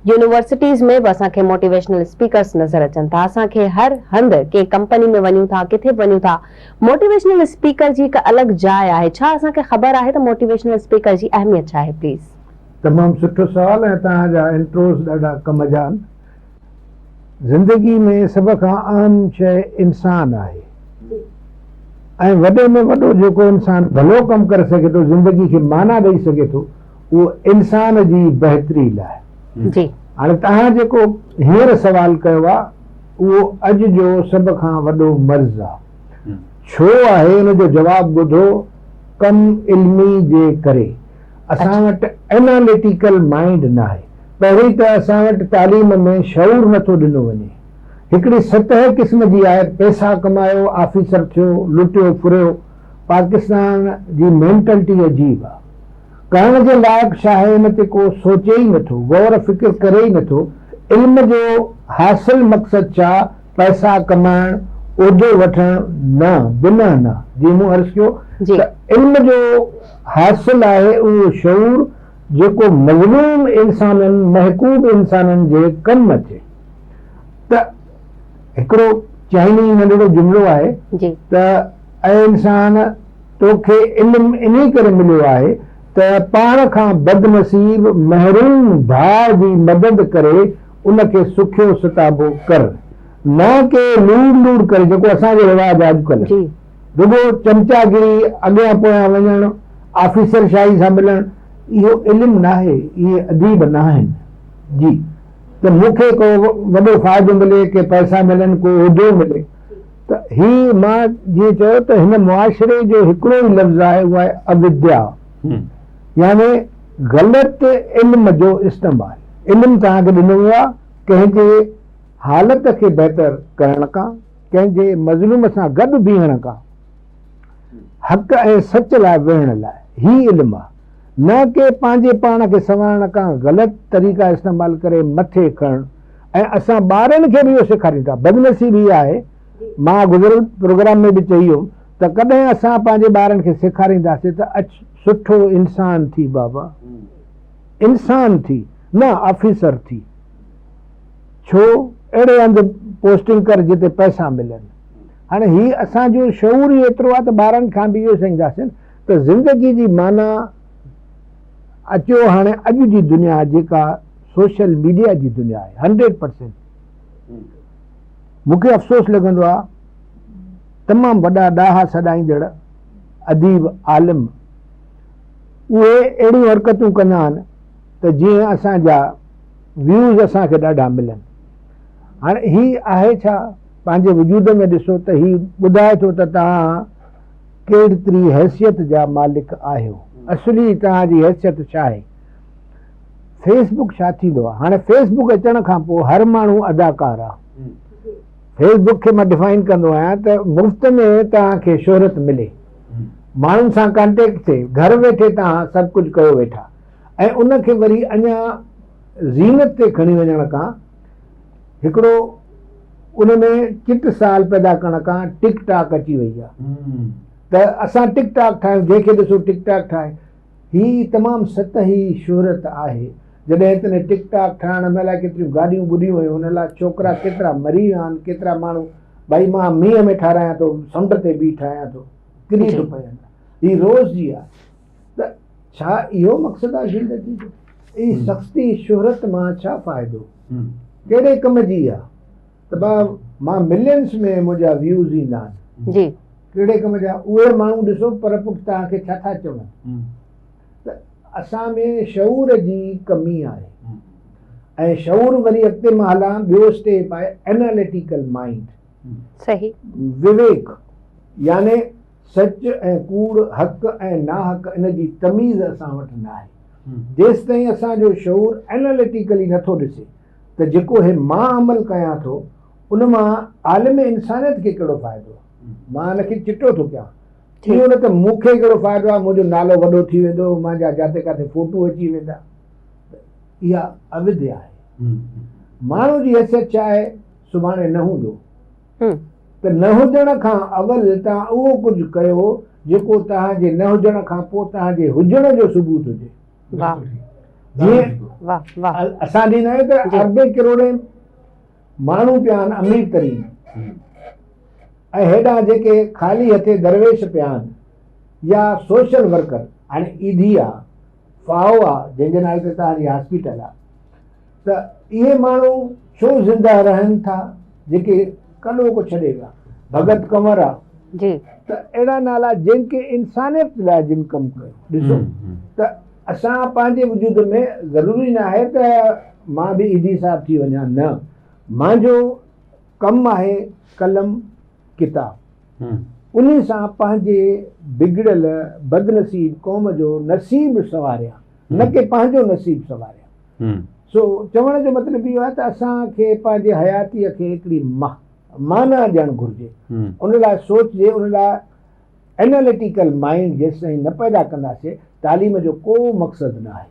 Universities ۾ به اسان کي موٽيويشنل اسپيڪرس نظر اچن ٿا، اسان کي هر هنڌ ڪنهن ڪمپني ۾ وڃون ٿا، ڪٿي به وڃون ٿا، موٽيويشنل اسپيڪر جي هڪ الڳ جاء آهي، ڇا اسان کي خبر آهي ته موٽيويشنل اسپيڪر جي اهميت ڇا آهي؟ پليز. تمام سٺو سوال ۽ توهان جا انٽروز ڏاڍا ڪم جا آهن. زندگي ۾ سڀ کان اهم شيء انسان آهي ۽ وڏي ۾ وڏو جيڪو انسان ڀلو ڪم ڪري سگهي ٿو زندگي کي معنيٰ ڏئي سگهي ٿو اهو انسان جي بهتري لاء جي هاڻي توهان جيڪو هينئر سوال ڪيو آهي اهو اڄ جو سڀ کان وڏو مرض آهي ڇو آهي ان جو جواب ٻڌو ڪم علمي جي ڪري اسان وٽ اناليٽيڪل مائنڊ ناهي پهرين ته اسان وٽ تعليم ۾ شعور نٿو ڏنو وڃي هڪڙي سطح قسم جي آهي پئسا ڪمايو آفيسر ٿيو لٽيو ڦريو پاڪستان جي مينٽلٽي عجيب آهي. ڪرڻ جي لائق شاهي ان تي ڪو سوچي ئي نه ٿو، غور فڪر ڪري ئي نه ٿو، علم جو حاصل مقصد ڇا، پئسا ڪمائڻ، عهدو وٺڻ، نه، بنهه نه، جيئن مون عرض ڪيو ته علم جو حاصل آهي اهو شعور جيڪو مظلوم انسانن، محڪوب انسانن جي ڪم اچي ته هڪڙو چائني ننڍڙو جملو آهي ته. اي انسان! توکي علم انهي ڪري مليو آهي ته پاڻ کان بدنصيب محروم ڀاء جي مدد ڪري ان کي سکيو ستابو ڪر. نه ڪي لوڙ لوڙ ڪري جيڪو اسان جو رواج آهي اڄڪلهه. رڳو چمچا گري، اڳيان پويان وڃڻ، آفيسر شاهي سان ملڻ، اهو علم ناهي، اهي اديب ناهن. جي ته مون کي ڪو وڏو فائدو ملي، ڪي پئسا ملن، ڪو عهدو ملي. ته هي مان جيئن چيو ته هن معاشري جو هڪڙو ئي لفظ آهي اهو آهي اوديا يعني غلط علم جو استعمال علم توهان کي ڏنو ويو آهي ڪنهن جي حالت کي بهتر ڪرڻ ڪا ڪنهن جي مظلوم سان گڏ بيهڻ ڪا حق ۽ سچ لاء ويهڻ لاء هي علم آهي. نه ڪي پنهنجي پاڻ کي سنوارڻ ڪان غلط طريقا استعمال ڪري مٿي کڻڻ ۽ اسان ٻارن کي به اهو سيکاريون ٿا بدنصيبي اها آهي مان گذريل پروگرام ۾ به چئي هيم ته ڪڏهن اسان پنهنجي ٻارن کي سيکارينداسي ته اچ سٺو انسان ٿي بابا انسان ٿي نه آفيسر ٿي ڇو اهڙي هنڌ پوسٽنگ ڪر جتي پئسا ملن هاڻي هي اسان جو شعور ئي ايترو آهي ته ٻارن کان به اهو سيکنداسين ته زندگي جي معنيٰ اچيو هاڻي اڄ جي دنيا جيڪا سوشل ميڊيا جي دنيا آهي هنڊريڊ پرسينٽ مون کي افسوس لڳندو آهي تمام وڏا ڏاها سڏائيندڙ اديب عالم اهي اهڙيون حرڪتون ڪندا آهن ته جيئن اسان جا ويوز اسان کي ڏاڍا ملن هاڻي هي آهي ڇا پنهنجي وجود ۾ ڏسو ته هي ٻڌائي ٿو ته توهان ڪهڙتري حيثيت جا مالڪ آهيو اصلي توهان جي حيثيت ڇا آهي فيس بڪ ڇا ٿيندو آهي هاڻي فيس بڪ اچڻ کان پوء هر ماڻهو اداڪار آهي فيس بڪ کي مان ڊفائن ڪندو آهيان ته مفت ۾ توهان کي شهرت ملي ماڻهن سان ڪانٽيڪٽ ٿئي گهر ويٺي توهان سڀ ڪجهه ڪيو ويٺا ۽ ان کي وري اڃا زينت تي کڻي وڃڻ کان هڪڙو ان ۾ چٽ سال پيدا ڪرڻ کان ٽڪ ٽاڪ اچي وئي آهي ته اسان ٽڪ ٽاڪ ٺاهيون جنهن کي ڏسو ٽڪ ٽاڪ ٺاهي هي تمام سطحي شهرت آهي جڏهن تن ٽڪ ٽاڪ ٺاهڻ ۾ الائي ڪيتريون گاڏيون ٻڏيون هيون ان لاء ڇوڪرا ڪيترا مري ويا آهن ڪيترا ماڻهو ڀائي مان مينهن ۾ ٺارايان ٿو سمنڊ تي بيهي ٺاهيان ٿو ڪري ٿو پيان هي روز جي آهي ته ڇا اهو مقصد آهي زندگي جو؟ اي سختي شهرت مان ڇا فائدو؟ ڪهڙي ڪم جي آ؟ ته با مان ملينس ۾ منهنجا ويوز ايندا آهن جي ڪهڙي ڪم جا اهي ماڻهو ڏسو پر پٽ توهان کي ڇا ٿا چون؟ ته اسان ۾ شعور جي ڪمي آهي ۽ شعور وري اڳتي مان هلان ٻيو اسٽيپ آهي اناليٽيڪل مائنڊ صحيح وويڪ يعني سچ ۽ ڪوڙ، حق ۽ ناحق ان جي تميز اسان وٽ ناهي. جيستائين اسان جو شعور Analytically نٿو ڏسي ته جيڪو هي مان عمل ڪيان ٿو ان مان عالم انسانيت کي ڪهڙو فائدو؟ مان ان کي چٽو ٿو ڪيان. اهو نه ته مون کي ڪهڙو فائدو آهي، منهنجو نالو وڏو ٿي ويندو، منهنجا جاتي ڪاٿي فوٽو اچي ويندا. ته اها اودهيا آهي. ماڻهو جي حيثيت ڇا آهي؟ سڀاڻي نه هوندو. هن. ته نه هجڻ کان اول توهان اهو ڪجهه ڪيو جيڪو توهان جي نه هجڻ کان پوء توهان جي هجڻ جو ثبوت هجي. واهه جيئن واهه واهه. اسان ڏيندا آهيون ته جي. اربين ڪروڙين ماڻهو پيا آهن امير ترين ۽ هيڏانهن جيڪي خالي هٿين درويش پيا آهن يا سوشل ورڪر هاڻي ايڌي آ. فاهو آ جنهن جي نالي تي توهان جي هاسپيٽل آ ته اهي ماڻهو ڇو زنده رهن ٿا جيڪي ڪڏو ڪو ڇڏي ويا ڀڳت ڪنور آ جي ته اهڙا نالا جن کي انسانيت لاء جن ڪم ڪيو ڏسو ته اسان پنهنجي وجود ۾ ضروري نه آهي ته مان به ايڌي صاحب ٿي وڃان نه مانجو ڪم آهي قلم ڪتاب انهي سان پنهنجي بگڙيل بدنصيب قوم جو نصيب سنواريان نه ڪي پنهنجو نصيب سنواريان سو چوڻ جو مطلب اهو آهي ته اسان کي پنهنجي حياتي کي هڪڙي معنيٰ ڏيڻ گهرجي ان لاء سوچجي ان لاء اناليٽيڪل مائينڊ جيستائين نه پيدا ڪنداسي تعليم جو ڪو مقصد نه آهي.